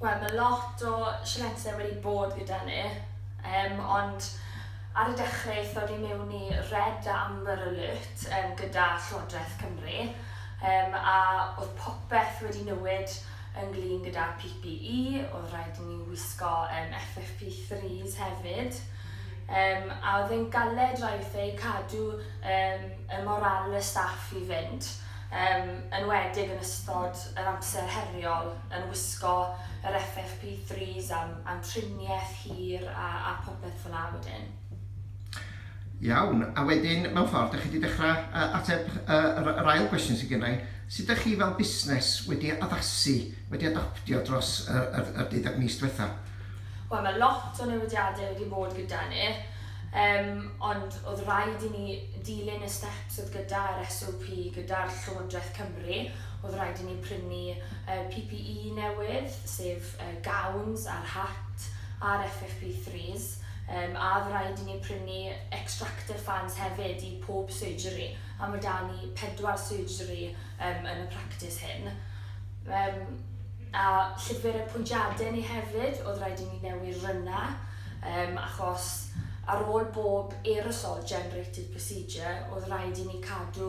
Wel ma' lot o sialensau wedi bod gyda ni yym ond ar y dechre aethon ni mewn i red a amber alert yym gyda Llywodraeth Cymru yym a oedd popeth wedi newid ynglŷn gyda PPE, oedd rhaid i ni wisgo yym FFP3s hefyd yym a oedd e'n galed rhaid wrtha i cadw yym y morale staff i fynd yym yn enwedig yn ystod yr amser heriol yn wisgo yr FFP3s am, am triniaeth hir a, a popeth fyna wedyn. Iawn, a wedyn mewn ffordd dych chi wedi dechrau uh, ateb uh, yr ail gwestiwn sydd gennau. Sut ydych chi fel busnes wedi addasu, wedi adoptio dros yr, yr, yr deuddeg mis diwetha? Wel, mae lot o newidiadau wedi bod gyda ni, um, ond oedd rhaid i ni dilyn y steps oedd gyda'r SOP, gyda'r Llywodraeth Cymru, oedd rhaid i ni prynu PPE newydd, sef gowns a'r hat a'r FFP3s, a oedd rhaid i ni prynu extractor fans hefyd i pob surgery, a mae 'da ni pedwar surgery yn y practis hyn. A llyfr y pwyntiadau ni hefyd, oedd rhaid i ni newid rynna, achos ar ôl bob aerosol generated procedure oedd rhaid i ni cadw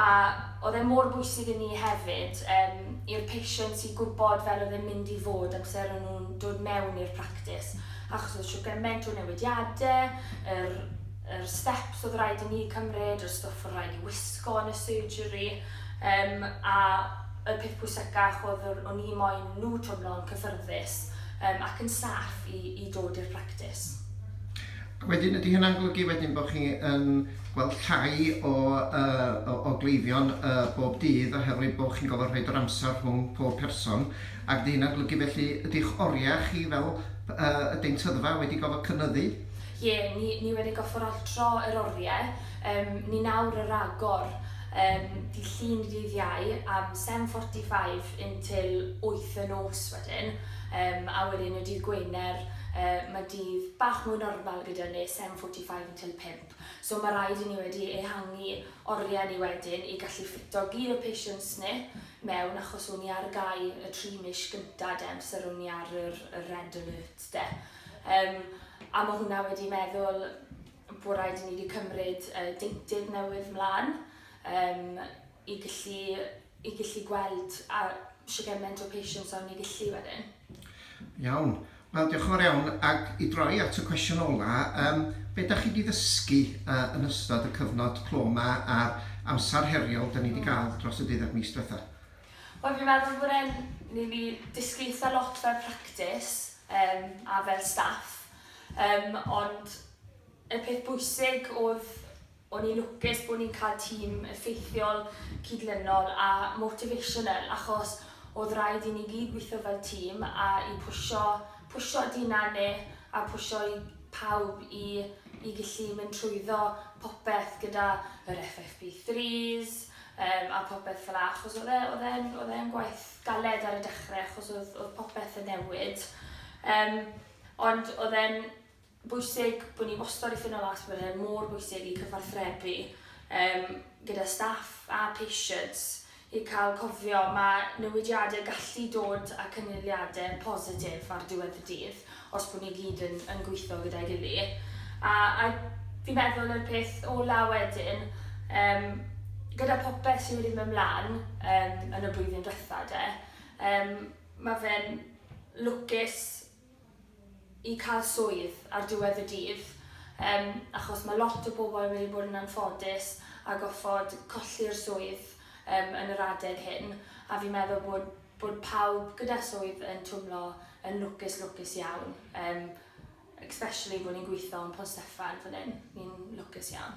a oedd e mor bwysig i ni hefyd yym i'r patients i gwybod fel oedd e'n mynd i fod amser o'n nhw'n dod mewn i'r practis achos oedd siwr gymaint o newidiadau, yr, yr steps oedd rhaid i ni cymryd, yr stwff oedd rhaid i wisgo yn y surgery um, a y peth pwysicach oedd o'n i moyn nhw twmlo'n cyffyrddus um, ac yn saff i, i dod i'r practis. Wedyn, ydy hynna'n golygu wedyn bod chi yn gweld llai o yy o o gleifion yy bob dydd oherwydd bo' chi'n gorfod rhoid yr amser rhwng pob person ac 'di hynna'n golygu felly ydych oria chi fel p- yy y deintyddfa wedi gofod cynyddu? Ie ni ni wedi gofod altro yr orie yym ni nawr y ragor yym dydd Llun i dydd Iau am seven forty five until wyth y nos wedyn yym a wedyn y dydd Gwener yy ma' dydd bach mwy normal gyda ni seven forty five until pump. So mae rhaid i ni wedi ehangu oriau ni wedyn i gallu ffito gyd o patients ni mewn achos o'n ni ar gau y tri mis gyntaf de, amser o'n ni ar yr, y red alert de. Um, a mae hwnna wedi meddwl bod rhaid i ni wedi cymryd uh, deintydd newydd mlaen. Um, i gallu, i gallu gweld a shwt gymaint o patients a o'n ni'n gallu wedyn. Iawn. Wel, diolch yn fawr iawn. Ac i droi at y cwestiwn ola, um, be da chi wedi ddysgu uh, yn ystod y cyfnod clo yma a'r amser heriol da ni wedi cael hmm. dros y deuddeg mis diwetha? Wel, fi'n meddwl bod e'n... Ni wedi dysgu eitha lot fel practis um, a fel staff, um, ond y peth bwysig oedd O'n i'n lwcus bo' ni'n cael tîm effeithiol, cydlynol a motivational achos o'dd raid i ni gyd weithio fel tîm a i pwsio, pwsio Dina a Nick a pwsio i pawb i i gellu mynd trwyddo popeth gyda yr FFP threes yym a popeth fel'a achos o'dd e o'dd e'n o'dd e'n gwaith galed ar y dechre achos o'dd o'dd popeth yn newid yym ond o'dd e'n bwysig bod ni wastad i ffindo last minute, mor bwysig i cyfathrebu um, gyda staff a patients i cael cofio mae newidiadau gallu dod a cynulliadau positif ar diwedd y dydd os bod ni gyd yn, yn gweithio gyda'i gili. A, a fi'n meddwl yr peth ola wedyn, um, gyda popeth sydd wedi mynd mlaen um, yn y blwyddyn diwetha de, um, mae fe'n lwcus i cael swydd ar diwedd y dydd, yym achos ma' lot o bobl wedi bod yn anffodus a goffod colli'r swydd yym yn yr adeg hyn, a fi'n meddwl bod bod pawb gyda swydd yn twmlo yn lwcus lwcus iawn, yym especially bo' ni'n gwitho yn Pont Steffan fan 'yn, ni'n lwcus iawn.